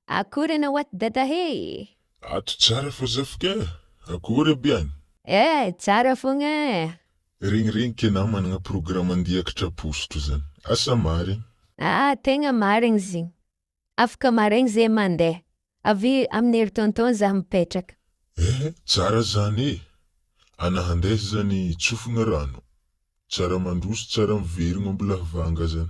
Akory ianao ato dada hee. Ato tsara fa zafika eh! Akory aby any. Eh! Tsara fogna eh! Regny regny kena managna programme andia kitrapostro zany. Asa marigny. Ah tegna marigny zigny. Afaka maraigny zay mandeha. Avy amin'ny hery tonton za mipetraka. Eh! Tsara zany eh! Ana handeha zany tsofigna rano. Tsara mandroso tsara miverigno ambilahy vanga zany.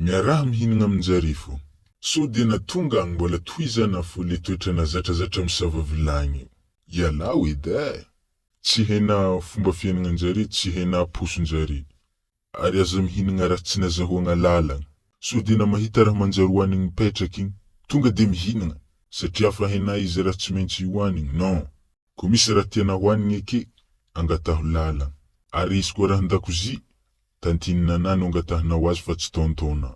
Miaraha mihinagna amin-jarivo. Sao dia na tonga agny mbola tohizana fo le toetra na zatrazatra misava vilagny io. Ialao edy eh! Tsy haina fomba fiainagnan-jare, tsy haina poson-jare. Ary aza mihinagna raha tsy nazahoagna lalagna. Sao dia na mahita raha manjary hohanigny mipetraka igny, tonga dia mihinagna, satria afa hainà izy raha tsy maintsy hohanigny, non! Ko misy ra tena ho an'ny eke angataho lala ary izy ko ra andakozia tantinina na no angatahinao azy fa tsy taontaona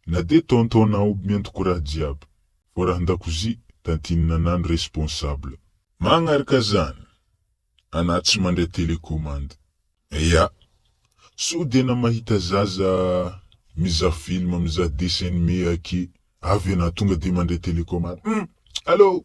na de taontaona aoby mianto ko raha jiaby fô raha andakozia tantinina na no responsable. Magnaraka zany ana tsy mandray telecommande. Ya. Sao de na mahita zaza mizaha film mizaha dessin anime ake avy ana tonga de mandray telecommande hum! Allo!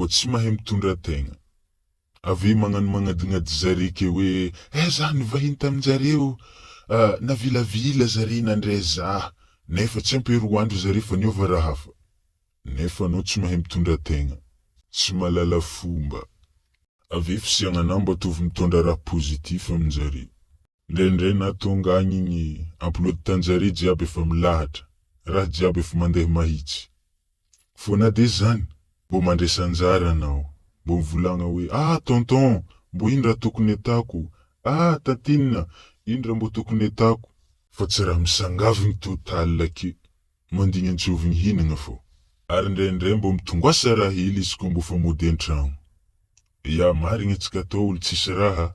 ko tsy mahay mitondra tegna. Aveo magnano magnadinady zare ke hoe eh za nivahiny taminjareo ah navilavila zare nandre za nefa tsy ampy roa andro zare fa niova ra hafa. Nefa anao tsy mahay mitondra tegna. Tsy malala fomba. Aveo fisiagna nambo atovy mitondra ra positif aminjareo. Indraindray na tonga agny igny ampilody tanjare jiaby efa milahatra, raha jiaby efa mandeha mahitsy. Fô na de zany, mbô mandresy anjara anao, mbô mivolagna hoe ah tonton, mbô ino raha tokony atako, ah tantinina, ino raha mbô tokony atako. Fa tsy raha misangavigny total ake, mandigny antsôvigny hinagna fô. Ary indraindray mbô mitongoàsa raha hely izy kô mbô fa mody an-tragno. Ya, marigny atsika atao olo tsisy raha,